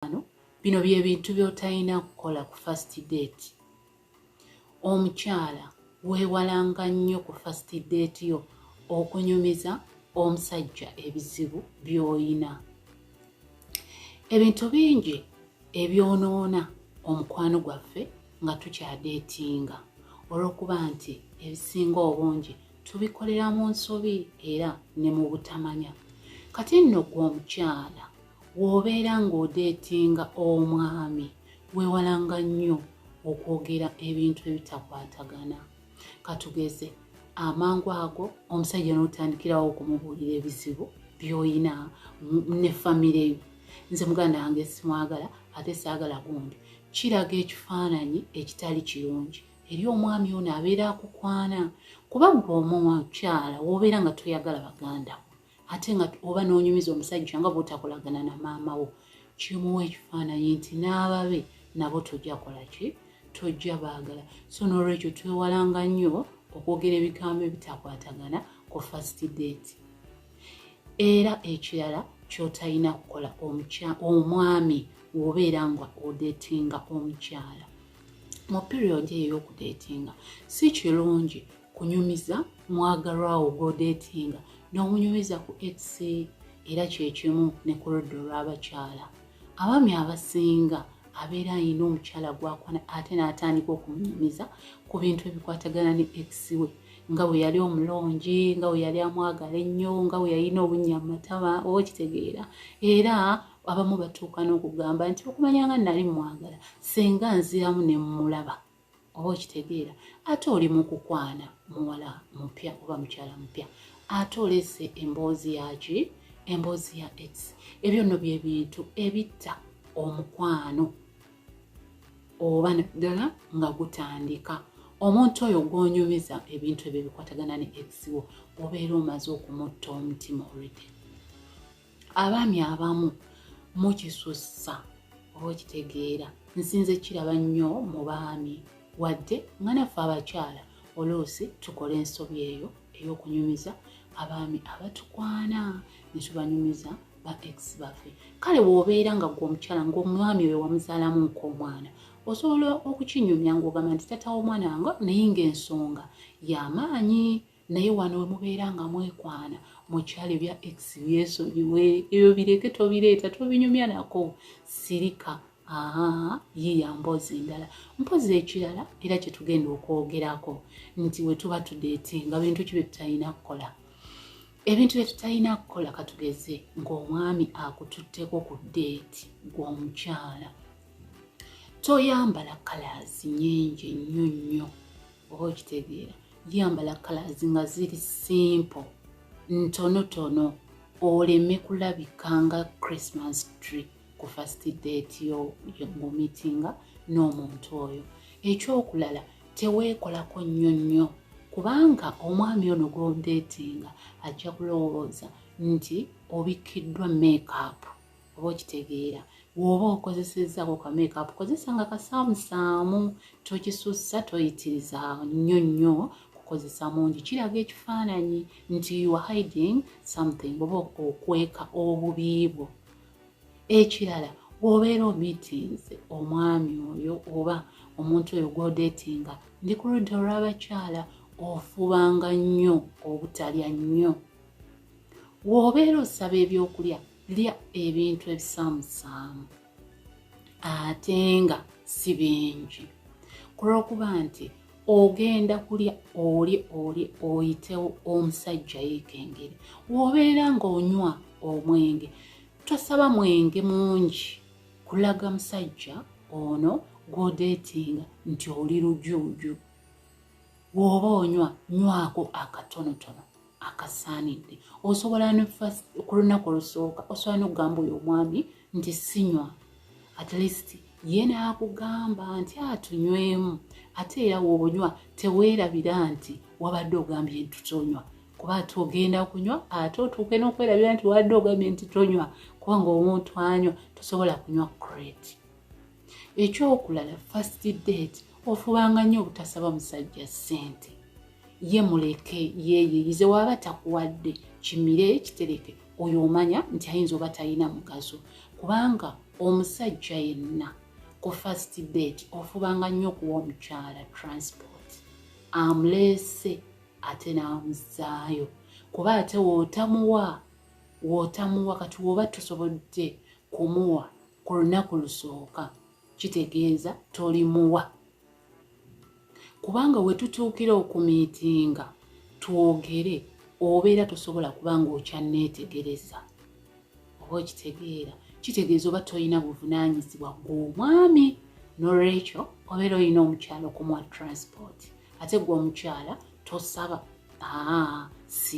mukwano bino byebintu byotalina kukola ku first date omukyala wewalanga nnyo ku first date yo okunyumiza omusajja ebizibu byoyina ebintu bingi ebyonoona omukwano gwaffe nga tukyadeetinga olwokuba nti ebisinga obungi tubikolera mu nsobi era ne mu butamanya kati nno gwe omukyala W'obeera ng'odeetinga omwami weewalanga nnyo okwogera ebintu ebitakwatagana. Katugeze amangu ago omusajja n'otandikirawo okumubuulira ebizibu by'olina ne famire yo. Nze muganda wange simwagala ate saagala gundi. Kiraga ekifaananyi ekitali kirungi eri omwami ono abeera akukwana kuba gwe omukyala w'obeera nga toyagala baganda ate nga oba n'onyumiza omusajja nga bwotakolagana na maama wo kimuwa ekifaananyi nti n'ababe nabo tojja kola ki tojja baagala so n'olwekyo twewalanga nnyo okwogera ebigambo ebitakwatagana ku first date era ekirala kyotalina kukola omwami wobeera nga odetinga omukyala mu period eyo okudetinga si kirungi kunyumiza mwagalwawo gwodeetinga n'omunyumiza ku ex era kyekimu ne ku ludda olw'abakyala abaami abasinga abeera alina omukyala gwakwana ate n'atandika okumunyumiza ku bintu ebikwatagana ne ex we nga bwe yali omulungi nga bwe yali amwagala ennyo nga bwe yalina obunnya mu matama oba okitegeera era abamu batuuka n'okugamba nti okumanya nga nali mwagala senga nziramu ne mmulaba oba okitegeera ate oli mu kukwana muwala mupya oba mukyala mupya ate olese emboozi yaki emboozi ya x ebyo nno bye bintu ebitta omukwano oba ddala nga gutandika omuntu oyo gwonyumiza ebintu ebyo bikwatagana ne x wo obeera omaze okumutta omutima olwedde abaami abamu mukisussa oba okitegeera nsinze kiraba nnyo mu baami wadde nga naffe abakyala oluusi tukola ensobi eyo ey'okunyumiza abaami abatukwana ne tubanyumiza ba ex baffe kale bw'obeera nga gwe omukyala ng'omwami oyo wamuzaalamu nk'omwana osobola okukinyumya ng'ogamba nti tata w'omwana wange naye ng'ensonga y'amaanyi naye wano wemubeera nga mwekwana mukyalo ebya ex byesonyiwe ebyo bireke tobireeta tobinyumya nako sirika yiya mboozi endala mpozi ekirala era kyetugenda okwogerako nti wetuba tudeete nga bintu ki byetutalina kukola ebintu byetutalina kukola katugeze ngaomwami akututteko ku deeti gwomukyala toyambala kalaazi nyingi nnyo nnyo oba okitegeera yambala kalazi nga ziri simple ntonotono oleme kulabika nga christmas tree ku first date yo ngomitinga n'omuntu oyo ekyokulala teweekolako nnyo nnyo kubanga omwami ono gwondeetinga ajja kulowooza nti obikkiddwa makeup oba okitegeera woba okozesezako ka makeup kozesa nga kasaamusaamu tokisussa toyitiriza nnyo nnyo kukozesa mungi kiraga ekifaananyi nti you are hiding something oba okweka obubiibwo ekirala wobeera omeetings omwami oyo oba omuntu oyo gwodetinga ndi ku ludda olw'abakyala ofubanga nnyo obutalya nnyo wobeera osaba ebyokulya lya ebintu ebisaamusaamu ate nga si bingi ku lw'okuba nti ogenda kulya oli oli oyitewo omusajja yeekengere wobeera ng'onywa omwenge tosaba mwenge mungi kulaga musajja ono gwodeetinga nti oli lujuuju woba onywa nywako akatonotono akasaanidde osobola ku lunaku olusooka osobola nokugamba oyo omwami nti sinywa at least ye naakugamba nti atunywemu ate era woonywa teweerabira nti wabadde ogambye nti tonywa kuba ate ogenda kunywa ate otuuke n'okwerabira nti wabadde ogambye nti tonywa kubanga omuntu anywa tosobola kunywa crate ekyokulala first date ofubanga nnyo obutasaba musajja ssente ye muleke yeyeyize waba takuwadde kimire kitereke oyo omanya nti ayinza oba talina mugaso kubanga omusajja yenna ku first date ofubanga nnyo okuwa omukyala transport amuleese ate n'amuzaayo kuba ate wootamuwa wootamuwa kati woba tusobodde kumuwa ku lunaku lusooka kitegeeza tolimuwa kubanga we tutuukira okumiitinga twogere obeera tosobola kuba ng'okyanneetegereza oba okitegeera kitegeeza oba tolina buvunaanyizibwa gw'omwami nolwekyo obeera olina omukyala okumuwa transport ate gwe omukyala tosaba aa siri